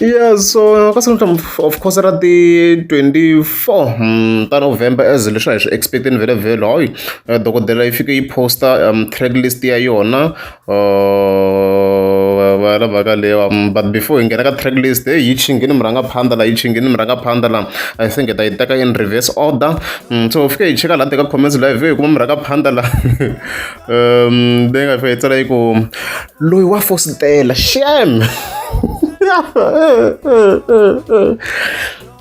yeah so ka siku of course ra ti 24 hmm, ta november as leswi a hi swi expecteni vele vele hoy eh, dokodela yi fike yi posta um, track list ya yona uh, va lava ka lewa um, but before hi nghena ka track list hey, yi chingini mi rhanga phanda la yi chingini mi rhanga phanda la i think hi ta yi teka in reverse order um, so fike hi cheka laha teka comments live hi kuma mi rhanga phanda la um leyi nga fika yi tsala yi ku loyi wa fositela xem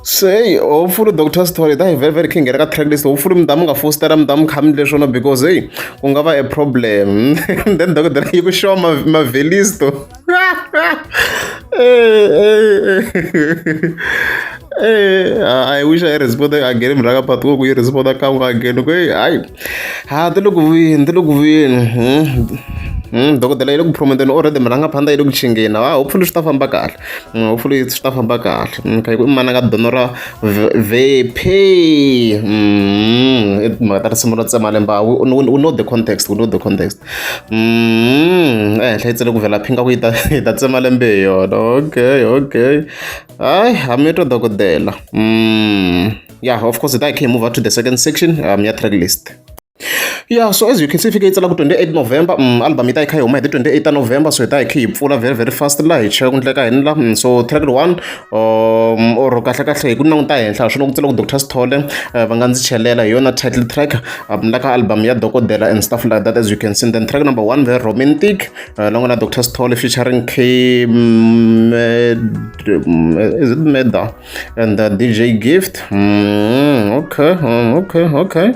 sei hopefully doctor story that very very king ka track list hopefully mdamu nga fostera mdamu khamni leswona because hey ku nga va a problem then dokodela yi ku xova mavhelisto Eh, I wish I responded again mraka but ko kuyi responda kan'we again ku hayi ha ti le ku vuyeni ti le ku vuyeni hmm, hmm, dokodela yi le ku promonteni already mi rhanga phanda yi le ku chingeni ha hopefully swi ta famba kahle hmm, hopefully swi ta famba kahle kha yi ku i mana ka dono ra vephe mhaka ta risimu ro tsema lemba u know the context u know the context ehenhla yi tsele ku vhela phinga ku yi ta yi ta tsema lembe hi yona okay okay hayi hami twa dokodela mm yeah of course that came over to the second section um ya track list yeah so as you can see fike yi tsala ku 28 november mm, album yi ta yi kha yi huma hi ti 28 ta november so hi ta hi kha yi pfula very very fast laha hi cheka ku ndleka hini la mm, so track one um or kahle kahle hi ku languta henhla swi langutisa loko doctor sithole eh, va nga ndzi chelela hi yona title track um la ka album ya dokodela and stuff like that as you can see then track number one very romantic uh, la n'wana doctor sithole featuring k mm, is it meda and uh, dj gift mm, okay mm, okay okay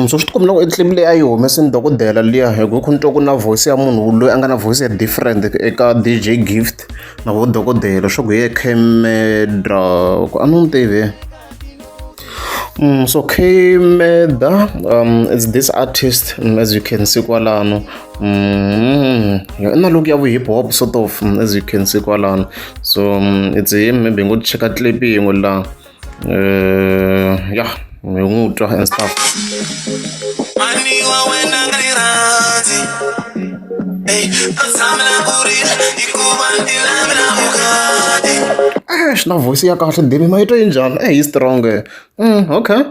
So swi ti komba loko nsimu leyi a yi humese ni dokodela liya hi ku ni twa ku na voice ya munhu loyi a nga na voice ya different eka D_J gift na vo dokodela swa ku hi yena Kmeda ku a ni n'wi tivi so Kmeda is this artist as you can see kwalano i na look ya vu hip hop sort of as you can see kwalano so it's him maybe hi ngo cheka clip yin'we la. eh, ya mi n'wi twa and stuff eh, swi na voice ya kahle ndimi ma yi twa yi njhani e yi strong mm, okay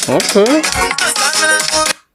okay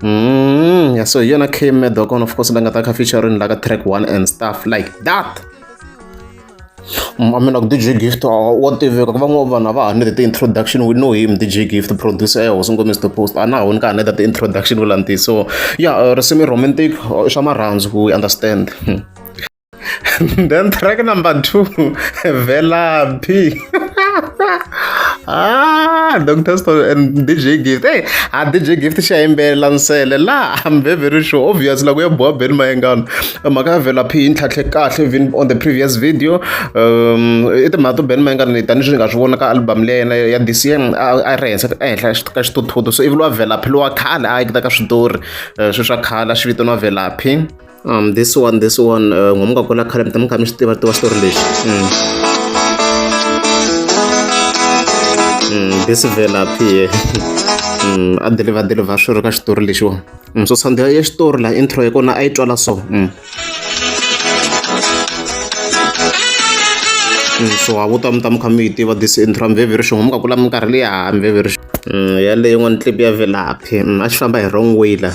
Mm, yeah, so yona came mad on of course like a featuring like a track one and stuff like that amina ku dj gift wa tiveka ku van'wana vanhu a va ha ni the introduction we know him dj gift producer ya hosi ngomisa the post a na ha woni ka ha ni the introduction ku lanti so ya risimu romantic swa marhandzu we understand hmm. then track number two velaphi ah dr Spo and dj gift hey a dj gift xa yimbelela nsele la i'm very very sure obvious la ku ya boha beni mayengano mhaka ya velaphi yi ntlhatlhe kahle even on the previous video um i timhaka to beni mayengano ni tanihi swi nga swi vona ka album leya yena ya dcm a a ri henhla ehenhla ka xithuthuthu so ivi lowa velaphi lowa khale a yekita ka switori eh, swi swa khale a xi vitaniwa velaphi um this one this one uh, ngomuka kula khale mi ta mi kha mi swi tiva tiva xitori lexi mm. mm, this velaphi ye mm, a deliva deliva swi ri ka xitori lexiwa mm, so sandela ya xitori laha intro ya kona a yi twala so mm. Mm, so a vuta mi ta mi kha mi yi tiva this intro mveverixo ngomuka kula mi karhi leya mveverixo mm, yaleyo n'wana clip ya velaphi mm, a xi famba hi wrong way la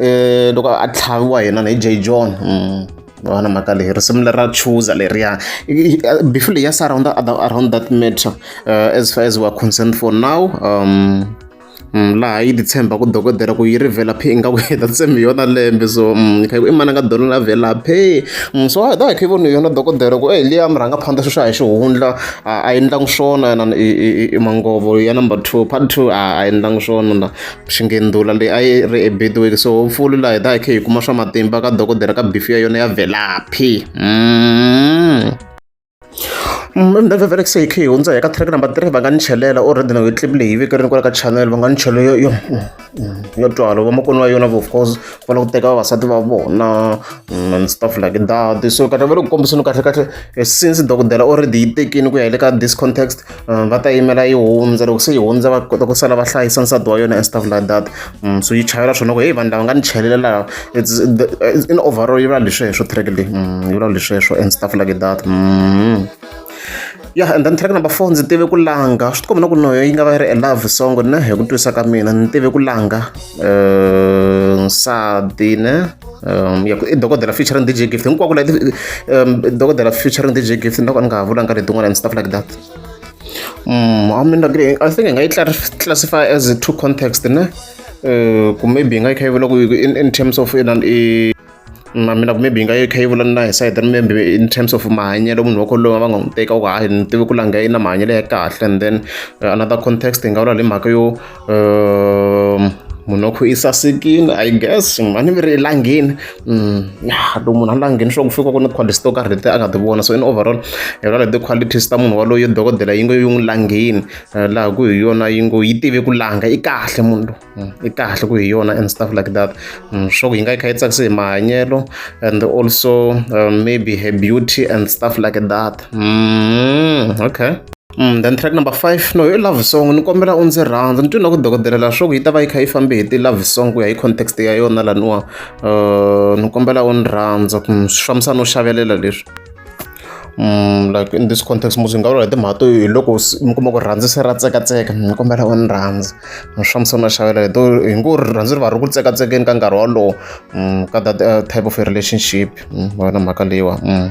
eh, loko a tlhaviwa yena na hi j john mm, va na mhaka leyi risimu leri ra chuza leriya before leyi ya sa around, around that matter uh, as far as weare concerned for now um, Mm, laha yi titshemba ku dokodela ku yi ri velaphi ingaku yi ta tshembi yona lembe so mm, kha i mananga dolo la velaphi mm, so a hi ta hi kha yi voni yona dokodela ku e liya mi rhanga phanda sweswi a hi xihundla a yi endlangi swona yena i mangovo ya number two part two a yi endlangi swona xinghindula leyi a yi ri eBedouin so hopefully laha hi ta hi kha hi kuma swa matimba ka dokodela ka bifi ya yona ya velaphi mm. mndvevele se hi kha hi hundza hi ka track number three va nga ni chelela o rhedina hi clip leyi veke rini kwala ka channel va nga ni chelo yo yo yo twalo vamakoni va yona of course va lava ku teka vavasati va vona mm, and stuff like that so kahle va le ku kombiseni kahle kahle eh, since dokodela already yi tekini ku ya hi le ka this context Uh, va ta yimela yi hundza loko se yi hundza va kota ku sala va hlayisa nsati wa yona and stuff like that mm, so yi chayela swona ku heyi vanhu lava nga ni chelela laha in overall yi vula lesweswo track leyi mm, yi vula lesweswo and stuff like that mm. yeah and then track number four ndzi tive ku langa swi tikomba na ku noyo yi nga va yi ri a love song ne hi ku twisa ka mina ni tive ku langa um nsati ne um ya ku i dokodela featuring DJ Gift hinkwako leti um dokodela featuring DJ Gift ni loko ni nga ha vulanga letin'wana and stuff like that um I mean I think hi nga yi classify as two context ne um ku maybe hi nga yi kha yi vula ku in terms of inan i na mina maybe hi nga yi kha yi vula na hi side then maybe in terms of mahanyelo munhu wa kholowa va nga n'wi teka ku hayi ni tivi ku langha yi na mahanyelo ya kahle and then another context hi nga vula hi mhaka yo um munokho yi sasekile i guess a ni viri elangeni mm, ya loko munhu a langeni swa ku fika ku ni quality to karhi leti a nga ti vona so in overall hi vona leti qualities ta munhu waloyo dokodela yi ngo yi n'wi langeni eh, laha ku hi yona yi ngo yi tive ku langa i kahle munhu mm, i kahle ku hi yona and stuff like that mm, swa ku yi nga yi kha yi tsakise hi mahanyelo and also eh, maybe her beauty and stuff like that okay then track number five no i love song ni kombela u ndzi rhandza ni twi na ku dokodela la swaku yi ta va yi kha yi fambe hi ti-love song ku ya hi context ya yona laniwa um ni kombela u ni rhandza swi fambisa no xavelela leswi um like in this context musi hi nga vula hi timhaka to hi loko mi kuma ku rhandzi se ra tsekatseka ni kombela u ni rhandza ni swi fambisa no xavela hi to hi ngo rhandzi ri va ri ku tsekatsekeni ka nkarhi wolowo um ka that type of a relationship wena mhaka leyiwa um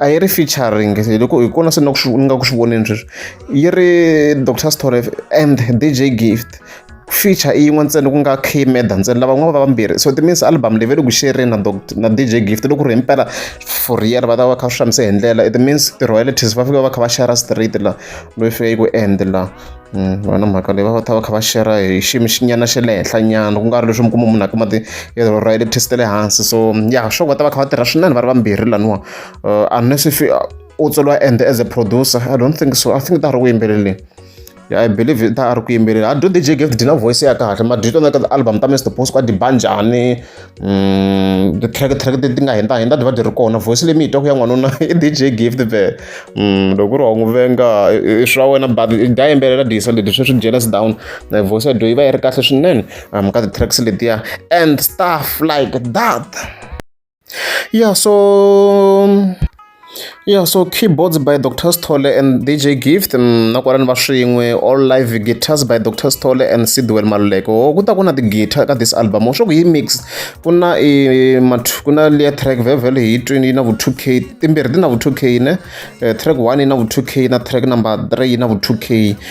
a yi ri featuring loko hi kona se ni ku swi ni nga ku swi voneni sweswi yi ri Doctor Sithole and DJ Gift feature i yin'we ntsena ku nga K Meda ntsena lava n'wana va vambirhi so timeans album leyi ve le ku xereni na Doctor na DJ Gift loko ku ri himpela for real va ta va kha swi hlamise hi ndlela it means ti-royalties va fika va kha va share straight la loyi fika yi ku end la. va na mhaka leyi va va ta va kha va shera hi xiyimo xi nyana xa le henhla nyana ku nga ri leswi mi kuma munhu a kuma ti ra yellow test ta le hansi so ya sure va ta va kha va tirha swinene va ri vambirhi laniwa unless if u tsoliwa and as a producer i don't think so i think ta ha ri ku yimbeleleni ya i believe ta ha ri ku yimbelela a do D_J Gift na voice ya kahle mara do you know album ta Mister Boss ku a diba njhani. Mm, ti-track track ti ti nga hindza hindza byi va byi ri kona voice leyi mi yi twa ku ya n'wanuna i DJ gift be mm, loko ku ri wa n'wi venga i swa wena but dya yimbelela disa leti sweswi jealous down eh, voice ya dyo yi va yi ri kahle swinene um ka ti-tracks letiya and stuff like that yeah so Ya so Keyboards by Doctor Sithole and DJ Gift mm, na kwalani va swin'we all live guitars by Doctor Sithole and Sidwell Maluleke ho ku ta ku na ti-guitar ka this album ho swa ku yi mix ku na i mat- ku na liya track vevel hi twini yi na vu 2k timbirhi ti na vu 2k ne Eh, track 1 yi na vu 2k na track number 3 yi na vu 2k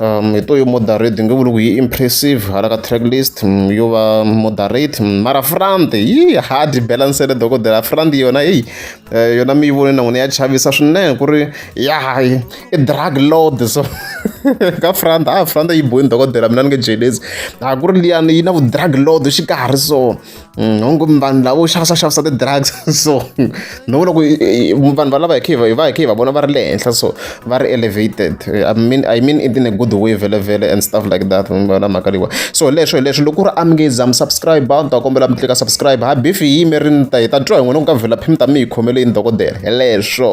um hi to yo moderate nge vuli ku yi impressive hala ka track list mm, yo va moderate mm, mara front yi hard balancele dokodela front yona eyi eh, yona mi yi voni na n'wina ya chavisa swinene ku ri ya i drug load so ka front a ah, front yi boyini dokodela mina ni nge jelezi a ah, ku ri liyani yi na vu-drug load xikarhi so Mm, hongu vanhu lavo xavisa xavisa ti-drugs so ni vona ku vanhu valava hi khe hi va hi khe hi va vona va ri le henhla so va ri elevated i mean i mean it in a good way vele vele and stuff like that na mhaka leyiwa so leswo hi leswi loko ku ri amngeza mi subscribe a ni ta kombela mi tlika subscribe ha bifi hi yimerini ta hi ta twa hi n'wina ku ka vhela phimi ta mi hi khomele yini dokodela hi leswo